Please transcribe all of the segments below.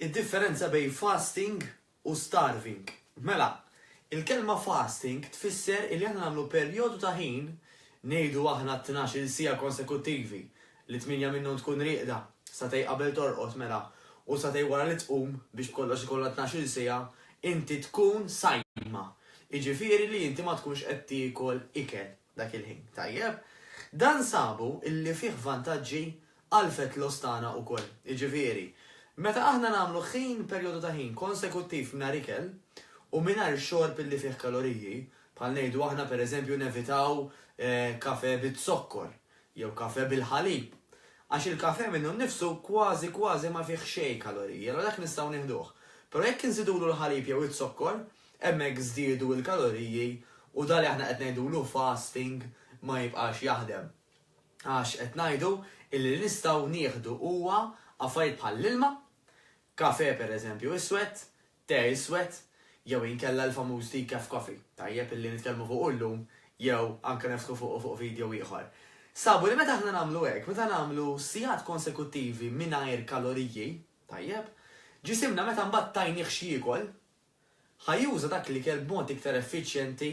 Id-differenza bejn fasting u starving. Mela, il-kelma fasting tfisser illi aħna nagħmlu perjodu ta' ħin, ngħidu aħna t-tnax-il siegħa konsekuttivi, li tmienja minnhom tkun rieqda, sagħtej qabel torqod mela, u sagħtej wara li tqum, biex b'kollox ikollha tnax-il siegħa, inti tkun sajma. Jiġifieri li inti ma tkunx qed tiekol ikel. dak il-ħin. Tajjeb. Dan sabu illi fih vantaġġi għal fat loss tagħna ukoll. Jiġifieri, meta aħna nagħmlu ħin, perjodu ta' ħin, konsekuttiv mingħajr ikel u mingħajr xorb illi fih kaloriji, bħal ngħidu aħna pereżempju nevitaw kafè biz-zokkor jew kafè bil-ħalib, għax il-kafè minnu nnifsu kważi kważi ma fih xejn kaloriji, allura dak nistgħu nieħduh. Però jekk inżidulu l-ħalib jew iz-zokkor, Hemmhekk żdiedu l-kaloriji u dak li aħna qed ngħidulu fasting ma jibqax jaħdem. Għax qed ngħidu illi li nistgħu nieħdu huwa affarijiet bħall-ilma, kafè pereżempju iswed, te iswed, jew inkella l-famuż decaf coffee, tajjeb illi nitkellmu fuqu llum jew anke neftħu fuqu fuq video ieħor. Sabu li meta aħna nagħmlu hekk, meta nagħmlu sigħat konsekuttivi mingħajr kaloriji, tajjeb, ġisimna meta mbagħad tajnih x'jiekol, ħa juża dak l-ikel b'mod iktar effiċjenti,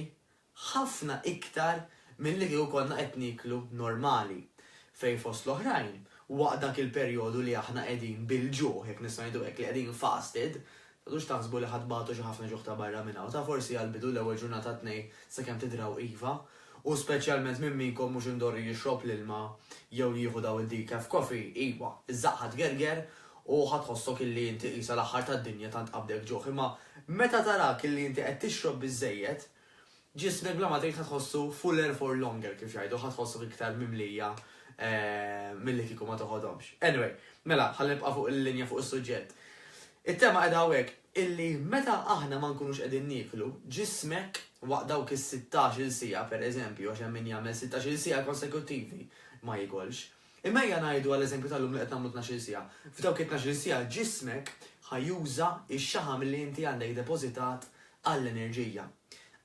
ħafna iktar milli kieku konna qed nieklu normali, fejn fost l-oħrajn, waqt dak il-perjodu li aħna qegħdin bil-ġuħ, jekk nistgħu ngħidu hekk, li qegħdin fasted, tgħodux taħsbu li ħa tbatu xi ħafna ġuħ ta' barra minn hawn, ta' forsi għall-bidu l-ewwel ġurnata tnej sakemm tidraw iva, U speċjalment min minkom mhux indorri jixrob l-ilma jew jieħu dawn id-decaf coffee, iwa, iż-żaqqha tgerger u ħa tħossok illi inti qisha l-aħħar tad-dinja tant qabdek ġuħ, imma meta tarak illi inti qed tixrob biżżejjed, ġismek bla ma tgħid ħa tħossu fuller for longer kif jgħidu, ħa tħossok iktar mimlija milli kieku ma toħodhomx. Anyway, mela, ħalli nibqa' fuq il-linja fuq is-suġġett. It-tema qiegħda hawnhekk. illi meta aħna ma nkunux qegħdin nieklu, ġismek waqt dawk is-sittax-il siegħa, pereżempju, għax hemm min jagħmel sittax-il siegħa konsekuttivi, ma jikolx. Imma ejja ngħidu għall-eżempju tal-lum li qed nagħmlu tnax-il siegħa. F'dawk it-tnax-il siegħa ġismek ħa juża x-xaħam li inti għandek depożitat għall-enerġija.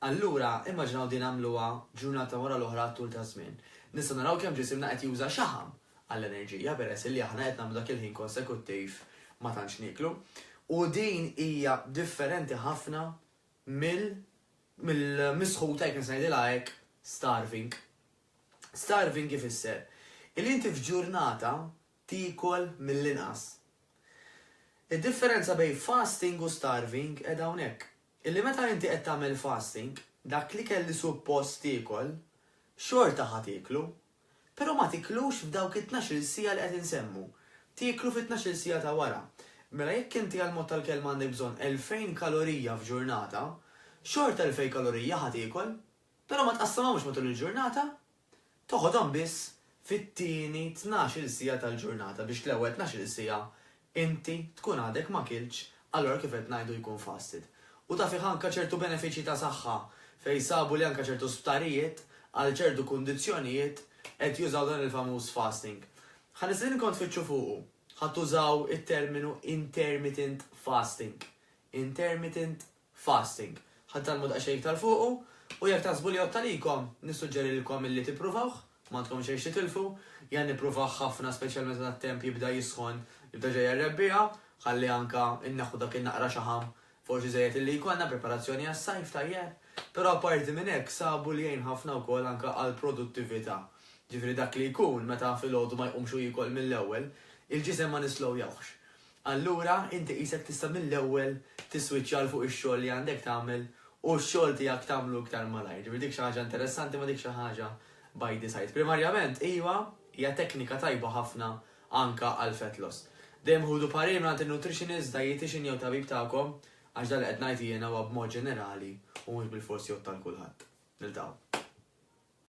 Allura, immaġinaw din għamluha ġurnata wara l-oħra għat-tul taż-żmien. Nistgħu naraw kemm ġisimna qed juża xaħam. għall-enerġija peress illi aħna qed nagħmlu dak il-ħin konsekuttiv ma tantx nieklu. U din hija differenti ħafna mill mill-misħuta jekk nista' ngħidilha hekk starving. Starving ifisser illi inti f'ġurnata tiekol mill-inqas. Id-differenza bejn fasting u starving qiegħda hawnhekk. Illi meta inti qed tagħmel fasting, dak l-ikel li suppost tiekol, xorta ħa tieklu, Però ma tiklux f'dawk it-tnax-il siegħa li qed insemmu. Tieklu fit-tnax-il siegħa ta' wara. Mela jekk inti għall-mod tal-kelma għandek bżonn elfejn kalorija f'ġurnata, xorta elfejn kalorija ħa tiekol. Però ma tqassamhomx matul il-ġurnata. Toħodhom biss fit-tieni tnax-il siegħa tal-ġurnata biex l-ewwel tnax-il siegħa Inti tkun għadek ma kiltx, allura kif qed ngħidu jkun fasted. U ta' fih anke ċertu benefiċċji ta' saħħa, fejn sabu li anke ċertu sptarijiet, għal ċertu kundizzjonijiet, qed jużaw dan il-famuż fasting. Ħa nistedinkom tfittxu fuqu. Ħa tużaw it-terminu intermittent fasting. Intermittent fasting. Ħa tgħallmu daqsxejn iktar fuqu, u jekk taħsbu li jgħodd għalikom, nissuġġerilkom illi tippruvawh, m'għandkom xejn x'titilfu. Jien nippruvah ħafna speċjalment meta t-temp jibda jisħon, jibda ġej għar-rebbiegħa, ħalli anke nneħħu dak in-naqra xaħam forsi żejjed illi jkollna, preparazzjoni għas-sajf tajjeb. Però apparti minn hekk sabu li jgħin ħafna wkoll anke għall-produttività. Ġifieri dak li jkun meta filgħodu ma jqumx u jiekol mill-ewwel, il-ġisem ma nislowjawhx. Allura inti qisek tista' mill-ewwel tiswiċċja 'l fuq ix-xogħol li għandek tagħmel u x-xogħol tiegħek tagħmlu iktar malajr. Ġifieri dik xi ħaġa interessanti ma dik xi ħaġa by the side. Primarjament, iva, hija teknika tajba ħafna anke għal fat loss. Dejjem ħudu parir mingħand in-nutritionist, dietician jew tabib tagħkom għax dan li qed ngħid jiena huwa b'mod ġenerali u mhux bilfors jgħodd għal kulħadd. Niltaqgħu.